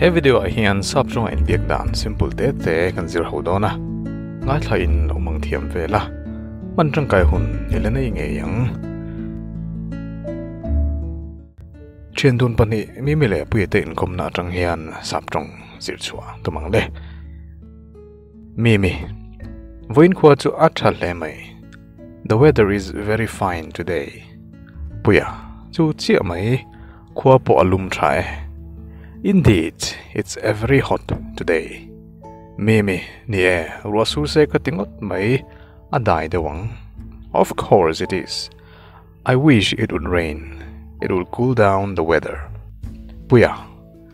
He video ah hian sap chunga inbiak dan simple te te kan zir ho dawn a. Ngaithla in lo mang thiam vel a. Man tangkai hun ni la nei ngei ang. Thian dun pahnih mi mi leh puia te inkawmna atang hian sap tawng zir chhuah ka mang le. Mimi, Vawiin khua chu a tha hle mai. The weather is very fine today. Puia, Chu chiah mai, khua pawh a lum tha e. Indeed, it's very hot today. Mimi, Ni e, ruah sur se ka ti ngawt mai, a dai deuh ang. Of course it is. I wish it would rain, it would cool down the weather. Puia,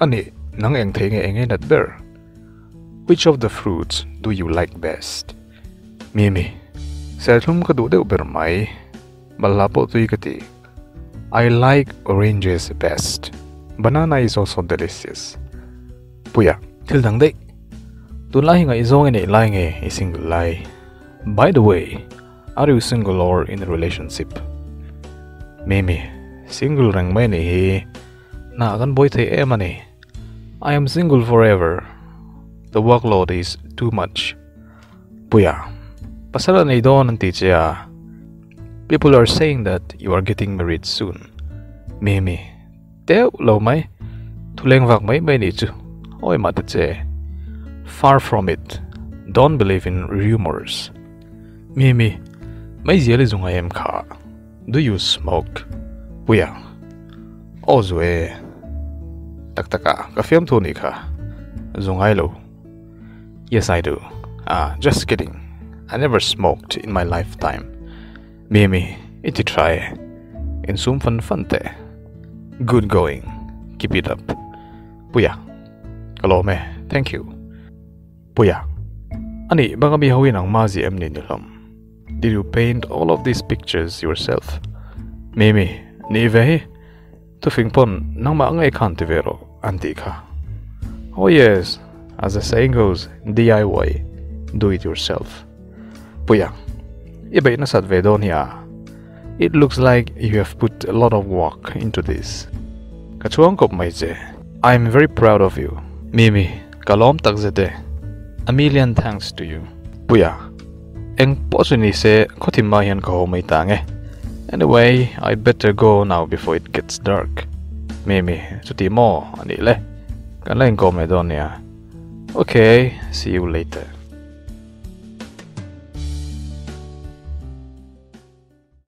A ni, nang eng thei nge eng e nat ber? Which of the fruits do you like best? Mimi, Serthlum ka duh deuh ber mai. Balhla pawh tui ka ti. I like oranges best. Banana is also delicious. Puia, Thil dang daih. Tunlai hi ngaihzawng i neih lai nge i single lai? By the way, are you single or in a relationship? Mimi, Single reng mai a nih hi. Hna kan bawi thei em a ni. I am single forever. The workload is too much. Puia, pasal a nei dawn an ti che a. People are saying that you are getting married soon. Mimi, teuh lo mai. Thuleng vak mai mai nih chu. Awi mah ta che. Far from it. Don't believe in rumours. Mimi, mai zial i zunga em kha. Do you smoke? Puia, Aw zu e, tak tak a, ka fiam thu anih kha, zu ngai lo. Yes I do, ah just kidding, I never smoked in my lifetime. Mimi, I ti tha e, in sum fan fan te. Good going, keep it up. Puia, Ka lawm e, thank you. Puia, Anih banga mi ho hi nangma zia em ni ni hlawm? Did you paint all of these pictures yourself? Mimi, Nih ve hi, tufing pawn nangmah ngei khan ti ve rawh, an tih kha. Oh yes, as the saying goes, DIY, do it yourself. Puia, i beih nasat ve dawn hi a? It looks like you have put a lot of work into this. Ka chuang kawp mai che. I'm very proud of you. Mimi, Ka lawm tak zet e. A million thanks to you. Puia, eng pawh chu ni se khawthim mai hian ka haw mai ta ang e. Anyway, I better go now before it gets dark. Mi mi, chutih maw? A nih le. Kan la inkawm leh dawn nia. Ok, see you later.